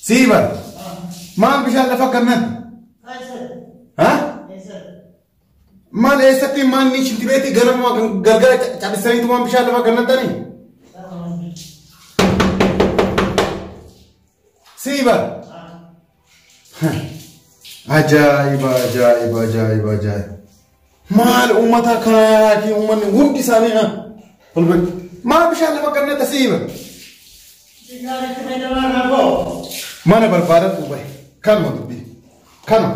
Sii bar. Maal bishaan lafa kannan? Ha? Maal eessatti maal ni shinti beeti gara moo gargara cabisaniitu waan bishaan lafa kannan tani? Sii bar. Ajaa'iba ajaa'iba ajaa'iba ajaa'iba. Maal uummata kanaatii uummanni hundi isaanii ha. Olbatti. Maa bishaan lafa gannata siiba. Mana barbaadatu bahe. Kanuma dubbii. Kanuma.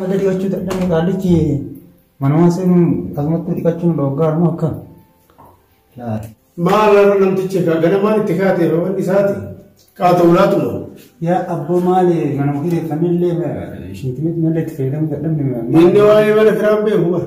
Mata dhiqachuu dadhabne qaallichi manamaa seenuun akkasumatti dhiqachuun dhoggaa immoo akka laata. Maal haala namtichi egaa ganamaan itti kaate wanni isaati qaata ulaatuma. Yaa abboo maali mana ofii reeffannillee shintimit malee itti fayyadamuu dadhabne. Inni waa'ee mana kiraa hin beeku bara.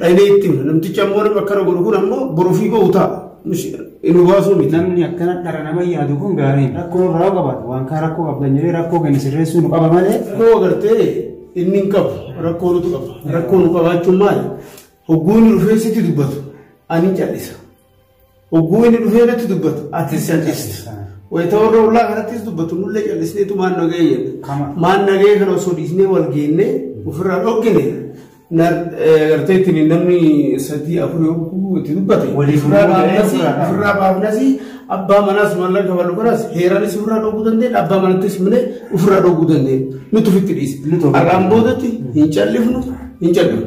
Dhaynee itti hima. Namtichi ammoo nama akkana godhu kun ammoo boruufii bahu ta'a. Inni baasuu miti. Namni akkana dhara nama yaadu kun gaarii rakkoo irraa qabaatu waan kaa rakkoo qabdan jedhee rakkoo keenya sirreessuu nu qaba malee. Rakkoo agartee inni hin qabu rakkoo nutu qaba. Rakkoo nu qabaachuun maali? Hogguun rifeensitti dubbatu ani cal'isa. Hogguu inni dhufee irratti dubbatu atis callisti. Wayita warra ollaa kanattis dubbatu nullee callisnee tumaan nagahee jedha. Kama. Maan nagahee kana osoo dhiisnee wal geennee ofirraa dhoggine gartee ittiin namni sadii afur yogguu itti dubbate. Waliif Ofirraa immoo ga'ee baafnasi ofirraa dhaabna. ofirraa baafnasi abbaa manaas mallan kabalu kanas heeranis ofirraa dhogguu dandeenya abbaa manattis mine ofirraa dhogguu dandeenya. Nuti ofitti dhiise. Nuti ofitti Har'aan boodatti hin callifnu hin callifnu.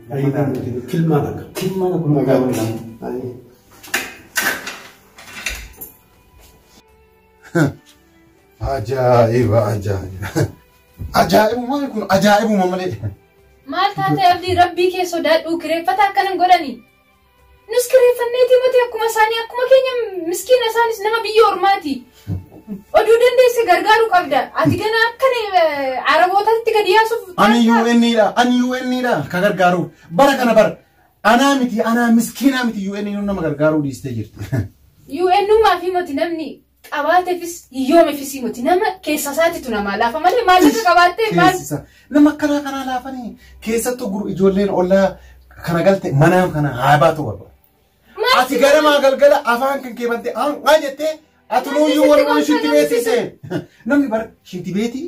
Kilmaan akka. Kilmaan akkuma Nagaa gaafatan. bulaa. Baay'ee. Ajaa'iba ajaa'iba. Ajaa'ibummaan kun ajaa'ibuma malee. Maal taatee abdii rabbii kee sodaadhuu kireeffata akkanan godhanii? Nus kireeffanneetii miti akkuma isaanii akkuma keenya miskiina isaanis nama biyya ormaati. Oduu dandeesse gargaaru qabda. Ati gana akka arabootatti gadi yaasuuf. Ani UN dha, ani UN dha ka gargaaru. Bara kana bara. Anaa miti, anaa miskiinaa miti UN nama gargaaruu dhiistee jirti. UNummaa fi miti namni qabaatefis hiyyoomefisii moti nama keessa isaatitu namaa laafa malee maallaqa qabaattee maal Teessisa. Nama akkanaa kanaa laafanii keessattuu gur- ijoolleen ollaa kana galte manaan kana haa baatu barbaada. maal Ati garamaa galgala afaan kan kee bantee aanqaa jettee ati nuuyyuu wal wal shitti beeksise. Namni bara shitti beetii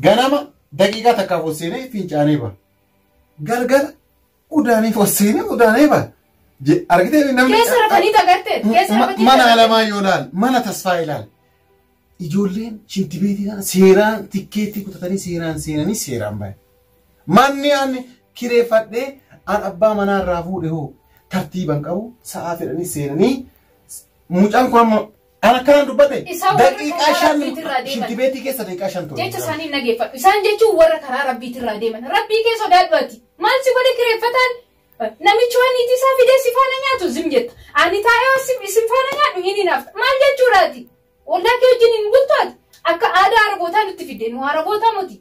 ganama daqiiqaa takkaaf ol seenee fincaanee ba'a. Galgala Udaanii fossiini udaanee ba. Je- Argitee mi namni. Keessa rafanii tagatte. Keessa Ma- rafanii Mana tagatte. alamaa yoo laal, mana tasfaa ilaal. Ijoolleen shintibeetii kana seeraan tikkeettii kutatanii seeraan seenanii seeraan bahe. Manni an kireeffadhee an abbaa manaa irraa fuudhe hoo tartiiban qabu sa'aa fedhanii seenanii mucaan kun amma Kan akkanaan dubbate Isa warra daqiiqaa karaa shan rabbiitirraa deeman. shintibeetii keessa daqiiqaa shan ture. jecha isaanii hin dhageeffadhu isaan jechuun warra karaa rabbiitirraa deeman rabbii kee sodaadhu ati maal si godhe kireeffataan namichi waan niitii isaa fidee si faana nyaatu zim jetta ani taa'ee waan si- isin faana nyaadhu hin hinaafta maal jechuudha ati ollaa kee wajjin hin bultu ati akka aadaa arabootaa nutti fidde nu arabootaa moti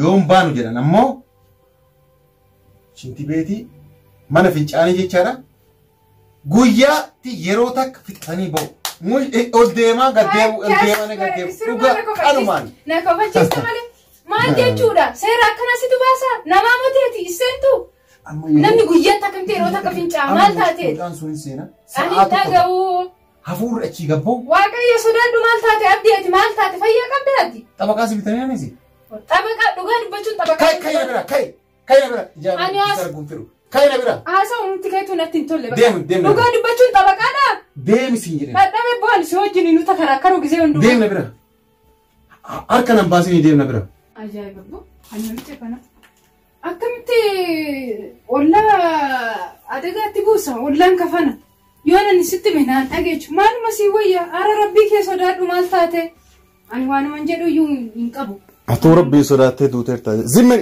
Yoo hin baanu jedhan ammoo shintibeetii mana fincaanii jechaadha. Guyyaatti yeroo takka fixanii ba'u. Mul- Ol deemaa gad deemu, ol deemaa ni gad deemu. Dhugaa qalumaan. Na kabachiista malee. Maal jechuudha? Seera akkana situ baasa? Namaa mateeti iseentu? Amma yeroo- Namni guyyaatti akkamti yeroo takka fincaa maal taateeti? Mucaan sun hin seena. Ani Sa'aa tokko- dhaga'uu. Hafuurri achii gad ba'u. Waaqayyo sodaadhu maal taate abdii ati maal taate fayyaa qabda ati. Xabaqaa si bitamee misi. Xabaqa dhugaa dubbachuun xabaqa. Kai kai na bira kai kai na bira Ani ijaarri as- ijaarri gumtiru. Kai na bira Haasaa uumti keetuu natti hin tolle. Deemu, deemu. Dhugaa dubbachuun xabaqaadha. deemi siin jedhee. Dhadhabee bu'aan si wajjin nu takaraakaru gisee Deem hundumaa. na bira. Harka nan baasinii deem na bira. Ajaa'iba boo. Ani namicha kana. Akkamitti ollaa adagaatti buusa ollaan kafana yoo nan sitti hime naan dhageechu maaluma sii wayya ara rabbii kee sodaadhu maal taate ani waanuman jedhu iyyuu hin qabu. Atuu rabbii sodaattee duuteerta zimmi.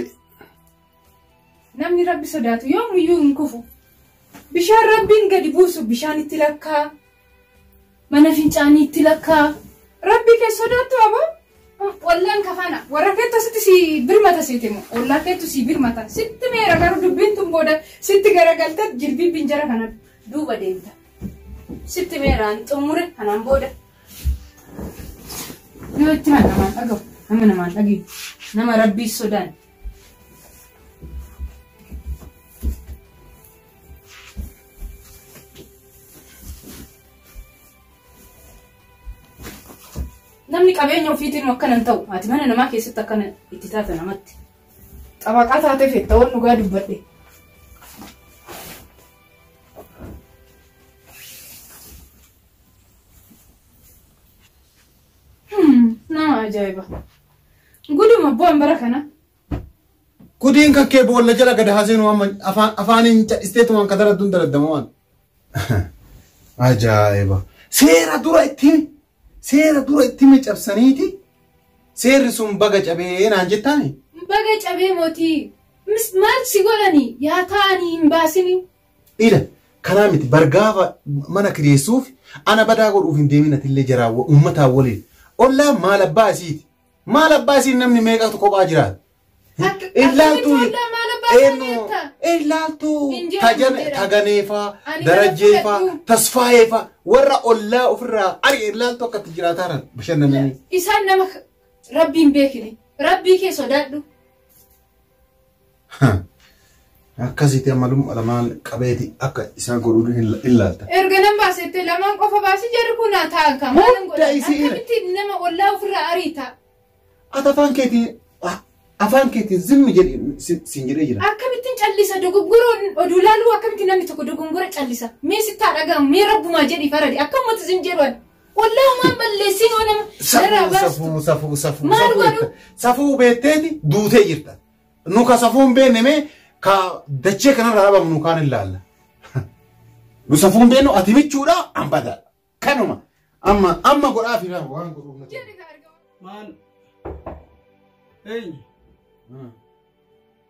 Namni rabbi sodaatu yoomiyyuu hin kufu. Bishaan rabbiin gadi buusu bishaan itti lakkaa mana fincaanii itti lakkaa rabbi kee sodaattu abo ollaan kafana warra keettu asitti si birmata siiti immoo ollaa keettu si birmata sitti meera garuu dubbiin tun booda sitti garagalta jirbii binjara kana duuba deemta sitti meeraan xumure kanaan booda yoo itti mana namaan dhagahu nama namaan dhagahu nama rabbii sodaan Namni qabeenya ofiitiin akkana hin ta'u. Ati mana namaa keessatti akkana itti taata namatti. Xabaqaa taatee feetta waan dhugaa dubbadhe. Hmm, Nama ajaa'iba. Guduma bu'aan bara kana Gudiin kan kee boolla jala gad haa seenuu amma afaan afaaniin cadhisteetumaan ka daradduun daraddama waan. Ajaa'iba. Seera dura itti himi. Seera dura itti himi cabsaniiti. Seerri sun baga cabee naan jettaani. Baga cabee mootii. Mis maal si godhani yaa taa'anii hin baasini. Ila kanaa miti bargaafa mana kireessuuf ana badaa godhuuf hin deemin atillee jaraa uummataa waliin. Ollaa maal abbaa isiiti. Maal abbaa isiin namni meeqatu kophaa jiraata? Akka- Illaaltuu akkamitti waldaa maal abbaa isaa eenyu beekta? illaaltuu Hin jedhamu, tajan- hin jedhamu. taganeefaa Ani darajjeefaa nama fudhadhu. tasfaayeefaa warra ollaa ofirraa ari illaaltuu akkatti jiraataa jiran bashannananii. Isaan nama rabbiin beekini. Rabbii kee sodaadhu. Akkasitti ammalumma lamaan qabeeti akka isaa godhu ilaalta. Erga nan baasettee lamaan qofa baasii jarri kun haa ta'an kan maal hin godhan. Akkamitti nama ollaa ofirraa ariita. Ati afaan keetiin afaan keetiin zimmi jedhi siin jedhee jira. Akkamittiin callisa dogoggoroo oduu laaluu akkamitti namni tokko dogoggora callisa. Mee sittaa dhagahamu mee rabbumaa jedhi faradi akka uummata zim jedhu Wallah homaan balleessin oo nama narraa Safuu baastu. safuu safuu safuu Maal safuu godhu? jetta. safuu beetteeti duutee jirta nu ka safuun beenne mee ka dachee kanarraa dhabamu nu kaan ilaalla nu safuun beennu ati michuudha an badaa kanuma amma amma godhaa fi naa waan godhuuf na Jedhi ka argamu. Maal? Eenyu?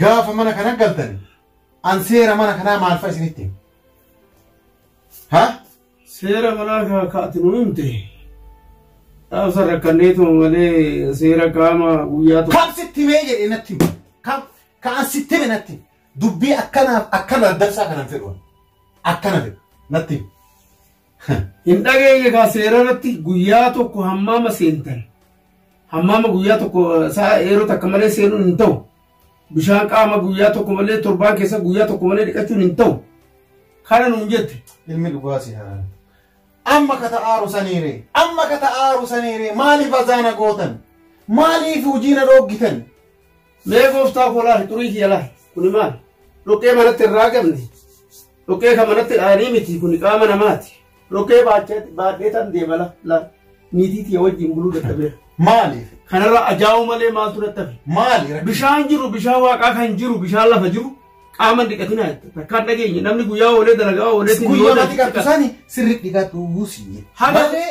gaafa mana kana galtan an seera mana kanaa maal fa'a isinitti hima? ha Seera manaa kan akka ati nu himte dhaabsa rakkanneetu malee seera qaama guyyaa tokko. kam sitti himee jedhee natti hima kam ka an sitti hime natti hima. dubbii akkanaaf akkana daddarsaa kanan fedhu an. akkana fedhu natti hima. Hin dhageenye kaa seera irratti guyyaa tokko hammaama seentan. Hammaama guyyaa tokko isaa yeroo takka malee seenuun hin ta'u. Bishaan qaama guyyaa tokko malee torbaan keessa guyyaa tokko malee dhiqachuun hin ta'u. Kana nuun jette. Ilmi dhugaa si haa. Amma kata aaru saniire. Amma kata aaru saniire. Maaliif azaana gootan? Maaliif hojii na dhooggitan? Mee gooftaa koo laali xurii kiyya laali kuni maali? Dhoqqee manatti irraa qabne dhoqqee kan manatti dhaanii miti kuni qaama namaati. Dhoqqee baachee baadhee tan deema la la niitii tiyya wajjin buluu dadhabeera. Maaliif? Kanarra ajaa'uu malee maaltu dadhabe? Maali rakkoon? Bishaan jiru bishaan waaqaa kan jiru bishaan lafa jiru qaama hin dhiqatinaa jette. Takkaan dhageenye namni guyyaa oolee dalagaa oolee Guyyaa mati qabdu sani sirri dhiqadhu siin jedhe. Haga- Malee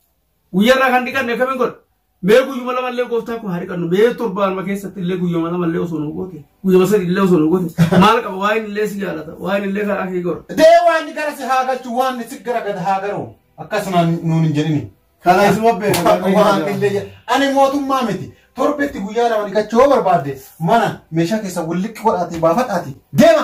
Guyyaa irraa kan dhiqanne akkamiin godha? Mee guyyuma lama illee gooftaa koo haa dhiqannu. Mee torbaanuma keessatti illee guyyuma lama illee osoo nu goote. Guyyuma sadi illee osoo nu goote. Maal qaba? Waa'een illee si jaalata. Waa'een illee karaa kee godha. Dee waan ni gara si haa galchu waan ni si gara gad haa garu. Akkasuma nuun hin jedhini. Kana isuma beeku. Waan illee jedha. Ani mootummaa miti. Torbetti guyyaa lama dhiqachuu yoo barbaadde mana meeshaa keessa wal liqqi godhaatii baafadhaatii deema.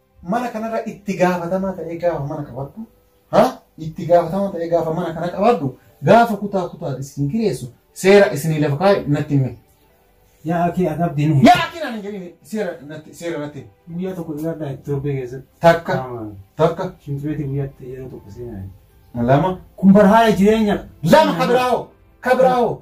Mana kanarra itti gaafatamaa ta'ee gaafa mana qabadhu, ha? Itti gaafatamaa ta'ee gaafa mana kana qabadhu, gaafa kutaa kutaa isin kireessu seera isinii lafa kaa'e natti himi. Yaa akii adabdii ni. Yaa akii naan hin jedhin seera natti seera natti himi. Guyyaa tokko dhiyaadhaa itti torbee keessatti. Takka takka Shimtimeetii guyyaatti yeroo tokko seenaa. lama Kun barhaala jireenya. lama kabiraa'oo kabiraa'oo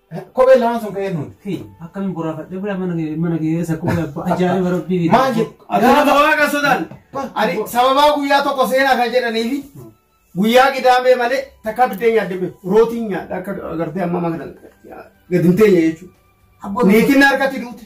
Kophee lamaan sun ka'ee nuun. Fi akkamiin boraafadhe bira mana kee mana kee keessa kophee abbaa ajaa'iba rabbii fi. Maal jedhu? Gaafa waaqa sodan. Ani sababaa guyyaa tokko seenaa kan jedhaniifi guyyaa qidaamee malee takka biddeen nyaadde beeku. Rootiin nyaadha akka agartee amma makan gadi hin teenye jechuudha. Niitiin na harkatti duute.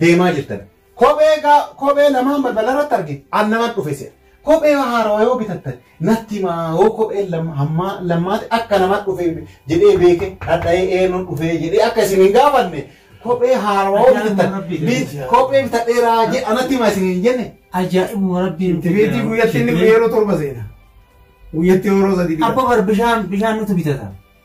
deemaa jirtan kophee gaa kophee lamaan balbala irratti arge an naman dhufe se'a. Kophee haarawa yoo bitattan natti himaa hoo kophee lam- hammaa lammaati akka nama dhufe jedhee beeke dhadha'ee eenyuun dhufe jedhee akka isin hin gaafanne kophee haarawa yoo Ajaan bitattan rabbii bit- deebisaa. kophee bitadheeraa jedhe anatti himaa isin hin jenne. Ajaa'ibuma rabbiin. Tibeetii guyyatti inni yeroo torba seena. Guyyatti yeroo sadii bitata. Abba bar bishaan bishaan nutu bitata.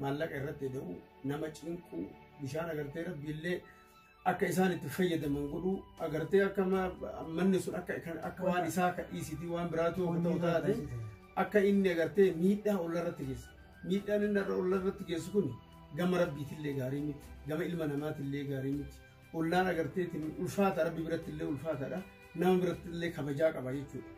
maallaqa irratti ida'uu nama cinquu bishaan agartee rabbiillee akka isaan itti fayyadaman godhuu agartee akka ma- manni sun akka akka waan isaa akka dhiisitii waan biraatu akka ta'u taate akka inni agartee miidhaa olla irratti geessa miidhaan inni irra olla irratti geessu kun gama rabbiitillee gaarii miti gama ilma namaatillee gaarii miti ollaan agarteetiin ulfaata rabbi birattillee ulfaataadha nama birattillee kabajaa qaba jechuudha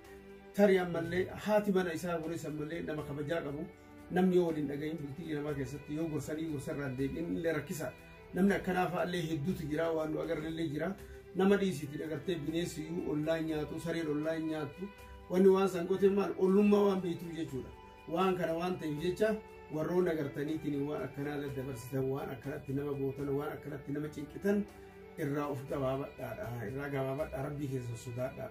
tarii ammallee haati mana isaa kunis ammallee nama kabajaa qabu Namni yoo waliin dhagahin bultii namaa keessatti yoo gorsanii gorsarraa deebiin illee rakkisa. Namni akkanaa fa'aallee hedduutu jira waan nu agarrellee jira. Nama dhiisiitti dhagartee bineensi iyyuu ollaa nyaatu sareen ollaa nyaatu wanni waan san gotee maal ollummaa waan beektuu jechuudha. Waan kana waan ta'eef jecha warroon agartaniitiin waan akkanaa daddabarsitan waan akkanatti nama gootan waan akkanatti nama cinqitan irraa of gabaabadhaadha irraa gabaabadhaa rabbii keessa sodaadhaa.